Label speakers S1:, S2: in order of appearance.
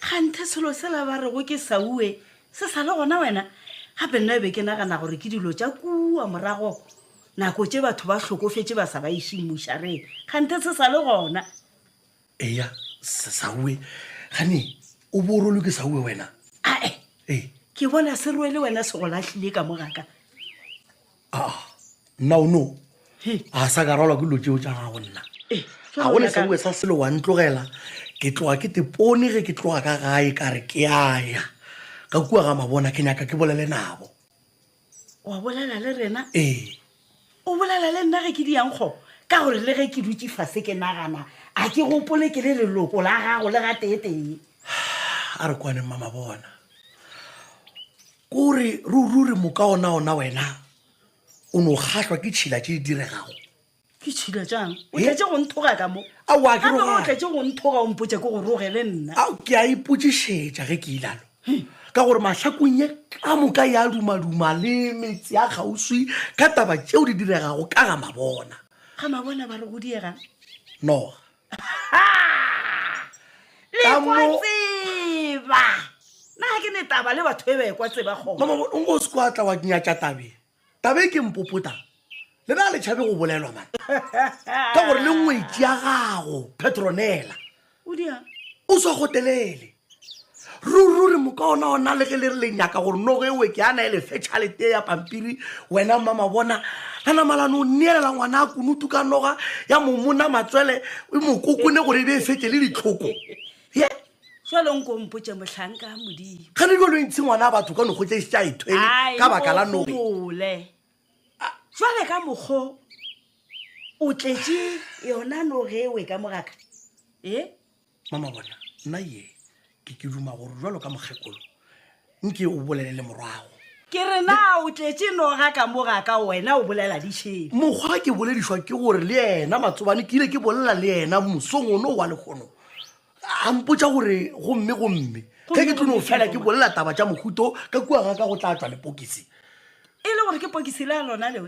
S1: Kganthe selo sela ba rego ke Saue se sa le gona wena? Gape nna be ke nagana gore ke dilo tša kua morago nako tše batho ba hlokofetše ba sa ba išing mošareng. Kganthe se sa le gona? Eya, Sa- Saue. Gane o bo o rolwe ke Saue wena? Ae, Ee. ke bona se rwele wena se go lahlile ka mo ga ka. Ah, nna o no a sa ka rwalwa ke dilo tšeo tša gago nna Eh, ga go lesaue sa selo wa ntlogela ke tloga ke tepone ge ke tloga ka gae ka re ke aya ka kua ga mabona ke nyaka ke bolele nabo wa bolela le rena ee o bolela le nna ge ke di yankgo ka gore le ge ke dutse fase ke nagana a ke gopole ke le leloko la gago le ga teetee a re kwane mma mabona Ke o re rururi moka onaona wena o no kgahlwa ke tšhila tše di diregago. Ke tšhila tšang? O He? tletše go nthoga ka mo. Aowa, ke Gape o rogale. tletše go nthoga o mpotša ke go roge le nna. ao ke a ipotšišetša ge ke ilalo ka gore mahlakong ye ka moka ya dumaduma le metse ya kgauswi ka taba tšeo di diregago ka ga mabona Ga mabona ba re go diegang. noga tseba na ke ne taba le batho e ba ekwa tseba gona o nko se kwa tla wa nyatša tabe tabe ke mpopota le na le tšhabe go bolelwa mane ka gore le ngwetši ya gago petronela o swa gotelele rururi moka ona ona le ge le re le nyaka gore nogo e weke ana e lefe tšhalete ya pampiri wena mma mabona la namalane o neelela ngwana a kunutu ka noga ya momona matswele e mokoko ne gore e be e fete le ditlhoko ye jalo nko mpotse mohlanka modimo ga ne jalo e ntshe ngwana a batho ka nogo tse e se tsa e thwele ka baka la noge jale ka mokgo o tletse yona noge e weka mogaka e Mama, bona nna ye ke ke duma gore jwalo ka mokgekolo nke o bolelele morwago. Ke re na o tletše noga ka mo ga ka wena o bolela di šebe. Mokgwa ke boledišwa ke gore le yena Matsobane ke ile ke bolela le yena mosong ono wa lekgono a mpotša gore gomme gomme ge ke tlo no fela ke bolela taba tša mohuto ka kua ga ka go tla tšwa lepokisi. E le gore ke pokisi la lona leo